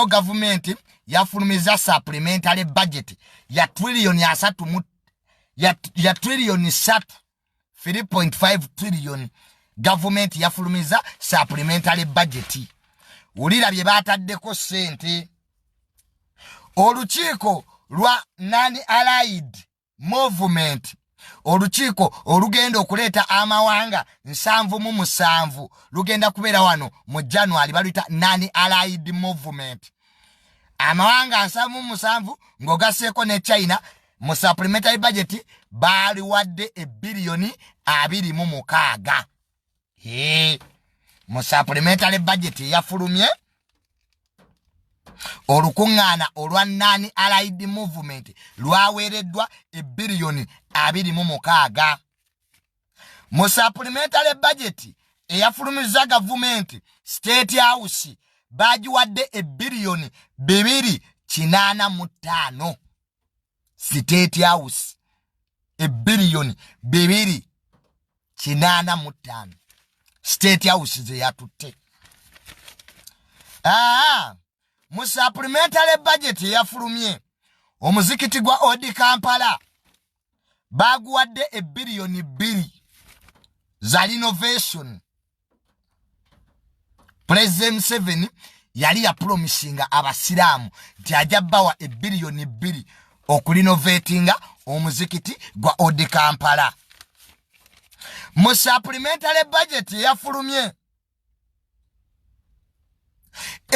leero gavumenti yafulumiza supplementary budget ya trillioni asatu mu ya, ya trillioni satu 3.5 trillioni gavumenti yafulumiza supplementary budget wulira bye baataddeko ssente olukiiko lwa nani allied movement olukiiko olugenda okuleeta amawanga nsanvu mu musanvu lugenda kubeera wano mu january baluyita nani allied movement amawanga nsanvu mu musanvu ng'ogasseeko ne china mu supplementary budget baaliwadde ebbiliyoni abiri mu mukaaga mu supplementary budget eyafulumye olukuŋŋaana olwa nani allied movement lwaweereddwa ebiriyoni abiri mu mukaaga mu supplementary budget eyafulumizza gavumenti state house baagiwadde ebiriyoni bibiri kinaana mu ttaano state house ebiriyoni bibiri kinaana mu ttaano state house ze yatutte aa mu supplementary budget eyafulumye omuzikiti gwa odi kampala baaguwadde ebiriyoni bbiri za linovation pulezidenti museveni yali yapulomisinga abasiraamu nti ajja bawa ebiriyoni bbiri okulinovetinga omuzikiti gwa odi kampala mu supplementary budget eyafulumye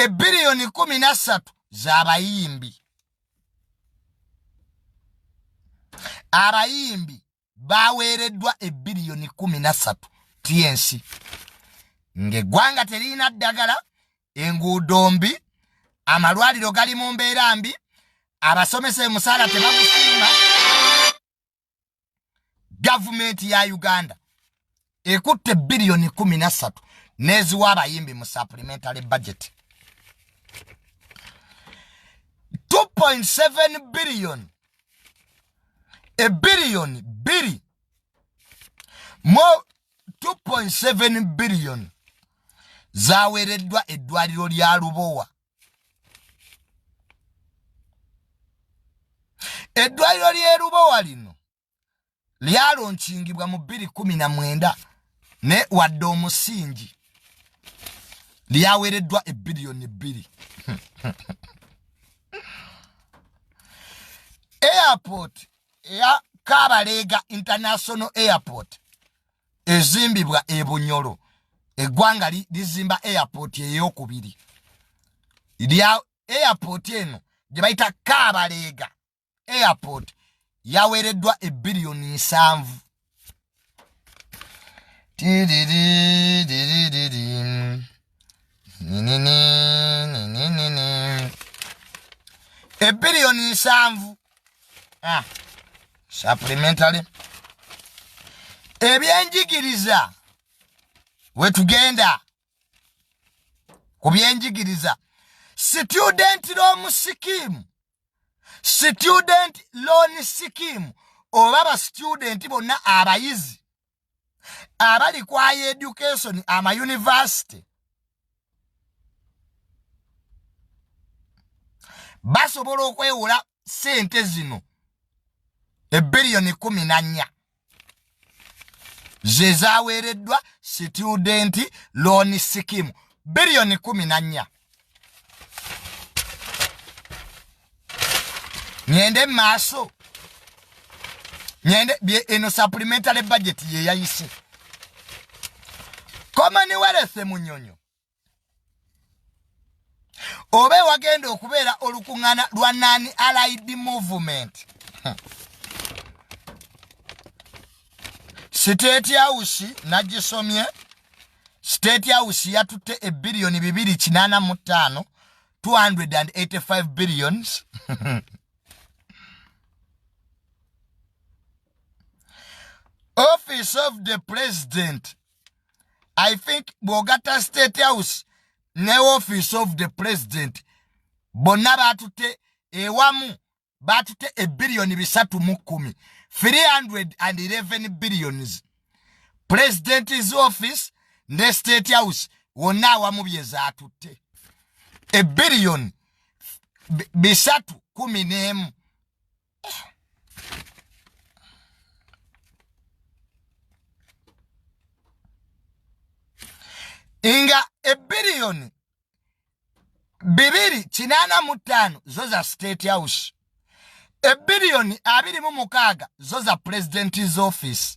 ebiriyoni kumi na ssatu z'abayimbi abayimbi baweereddwa ebbiliyoni kumi na ssatu tnc ng'eggwanga teririna ddagala enguudo mbi amalwaliro gali mu mbeera mbi abasomesa emusaala tebagusiima gavumenti ya uganda ekutte biliyoni kumi na ssatu n'eziwa abayimbi mu supplementary budget 2.7 biliyoni ebiliyoni biri mu 2.7 biliyoni zaweereddwa eddwaliro lya lubowa eddwaliro ly'erubowa lino lyalonkingibwa mu bbiri kumi na mwenda naye wadde omusingi lyaweereddwa ebbiliyoni bbiri airport eya kabaleega international airport ezimbibwa e bunyolo eggwanga lizimba airport eyokubiri lya airport eno gye bayita kabaleega airport yaweereddwa ebiriyoni nsanvu ebiriyoni nsanvu ah, supplementary ebyenjigiriza wetugenda ku byenjigiriza student loan scheme student loan scheme oba ba student bonna abayizi abali kwaya education ama university basobola okwewola sente zino ebiliyoni kumi nanya ze zaweereddwa situdenti looni sikimu biriyoni kumi na nnya ŋende mu maaso ŋende eno supplementary budget ye yayise commonwealth munyonyo oba ewagenda okubeera olukuŋŋana lwa nani allied movement siteeti awusi nagisomye siteeti awusi yatutte ebiriyoni bibiri kinaana mu ttaano 285 billions office of the president i think bw'ogatta state house ne office of the president bonna baatutte ewamu baatutte ebiriyoni bisatu mu kkumi 311 billions president's office ne state house wonna awamu bye zaatutte ebiriyoni bisatu kumi n'emu nga ebiriyoni bibiri kinaana mu ttaano zo za state house ebiriyoni abiri mu mukaaga zo za president's office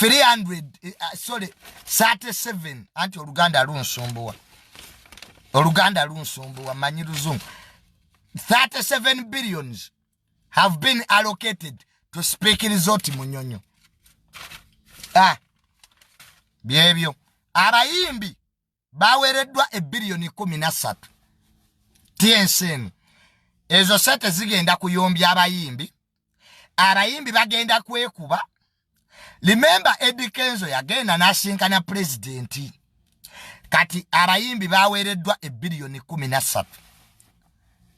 300 37 anti oluganda lunsumbuwa oluganda lunsumbuwa manyi luzungu 37 billions have been allocated to speak resort munyonyo ah, byebyo abayimbi baweereddwa ebbiliyoni kumi na ssatu tyensi eno ezo sente zigenda kuyombya abayimbi abayimbi bagenda kwekuba limemba edi kenzo yagenda n'asinkana pulezidenti kati abayimbi baweereddwa ebbiliyoni kumi na ssatu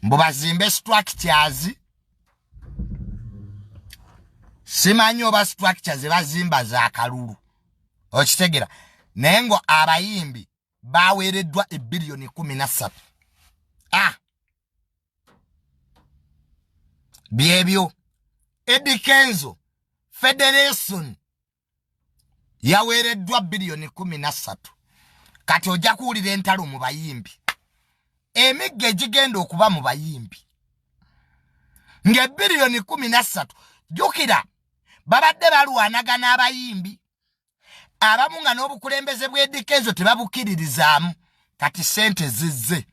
mbu bazimbe situakityazi simanyi oba structure zebazimba za kalulu okitegera naye ngo abayimbi baweereddwa ebiliyoni kumi na ssatu ah. byebyo edikenzo federation yaweereddwa biliyoni kumi na ssatu kati ojja kuwulira entalo mu bayimbi emigga egigenda okuba mu bayimbi ng'ebiriyoni kumi na ssatu jjukira babadde balwanagana abayimbi abamu nga n'obukulembeze bw'edika ezo tebabukkiririzaamu kati ssente zizze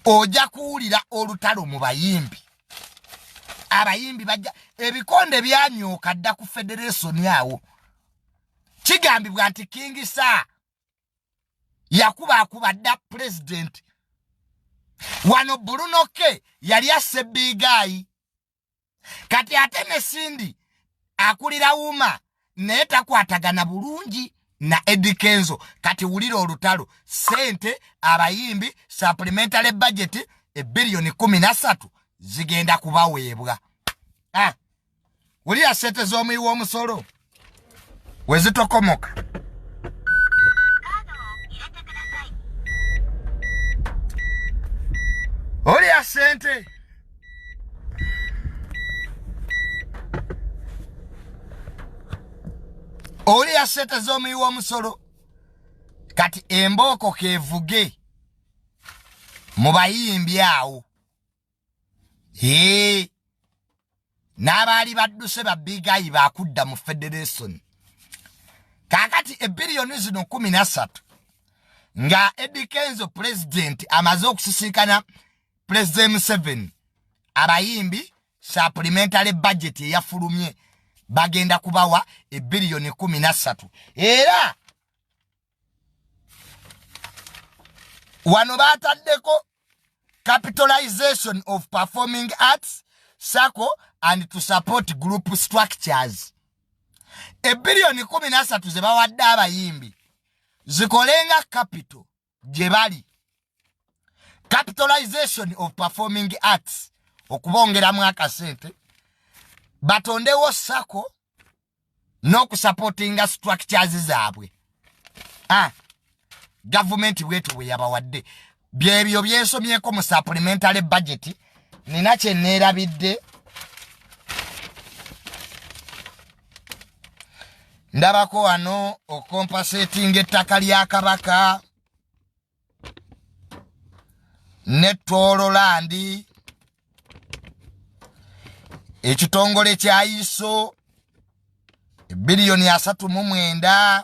ojja kuwulira olutalo mu bayimbi abayimbi bajja ebikonde byanyooka dda ku federesoni awo kigambibwa nti kingi saa yakuba akuba dda pulezidenti wano bulunoke yali asse biigaayi kati ate ne sindi akulira wuma naye takwatagana bulungi na Eddie Kenzo kati wulira olutalo sente abayimbi supplementary budget ebillion 13 zigenda kubaweebwa ah wulira sente z'omuyi w'omusolo wezitokomoka wulira sente oli yasente z'omuyi w'omusolo kati embooko kevuge mu bayimbi awo ee n'abaali badduse babigayi bakudda mu federation kakati ebiriyoni zino kumi nasatu nga edikenzo pulezidenti amaze okusisinkana president museveni abayimbi supplementary budget eyafulumye bagenda kubawa ebiliyoni kumi nassatu era wano bataddeko capitalization of performing arts sacco and to support group structures ebiliyoni kumi nassatu zebawadde abayimbi zikolenga capital gye bali capitalization of performing arts okubongeramu akasente batondewo sako n'okusapotinga structures zaabwe ah, gavumenti bwetu bwe yabawadde byebyo byensomyeko mu supplementary budget nina kyeneerabidde ndabako wano okompasetinga ettaka lya kabaka ne toololandi ekitongole kya iso ebiliyoni asatu mu mwenda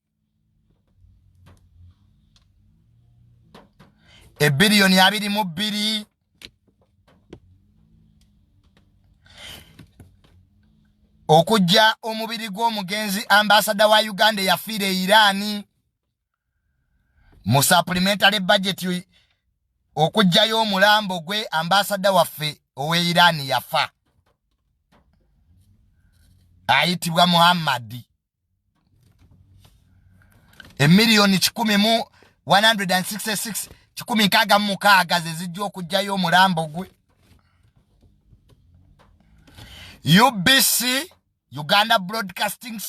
ebiriyoni abiri mu bbiri okujja omubiri gw'omugenzi ambasada wa uganda eyafiira e iraani mu supplementary budget okujjayo omulambo gwe ambasada waffe owe iraani yafa ayitibwa muhammadi emiliyoni kikumi mu 166 kikumi nkaaga mu mukaaga ze zijja okugyayo omulambo gwe ubc uganda broadcasting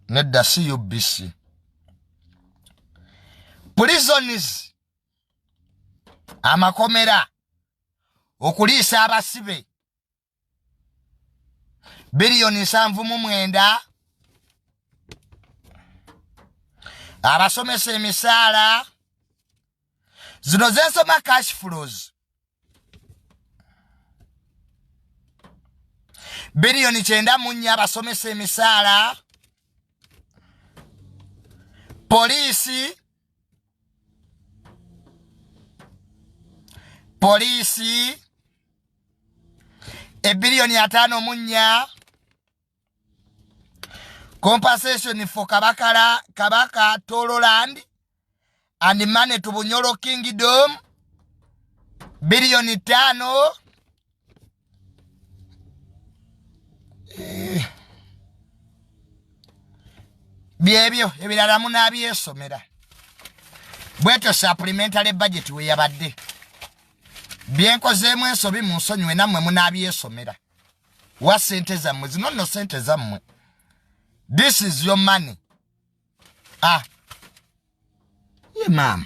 nedda si ubc prisons amakomera okuliisa abasibe biliyoni nsanvu mu mwenda abasomesa emisaala zino zensoma cash flows biliyoni kyenda mu nnya abasomesa emisaala poliisi poliisi ebiliyoni ataano mu nnya compensation for kabakala kabaka tololand and money to bunyolo kingdom biliyoni taano eh. byebyo ebirala munabyesomera bwetyo supplementary budget weyabadde byenkozeemu ensobi mu nsonyiwe nammwe munabyesomera wa sente zammwe zino nno sente zammwe this is your money ah ye maama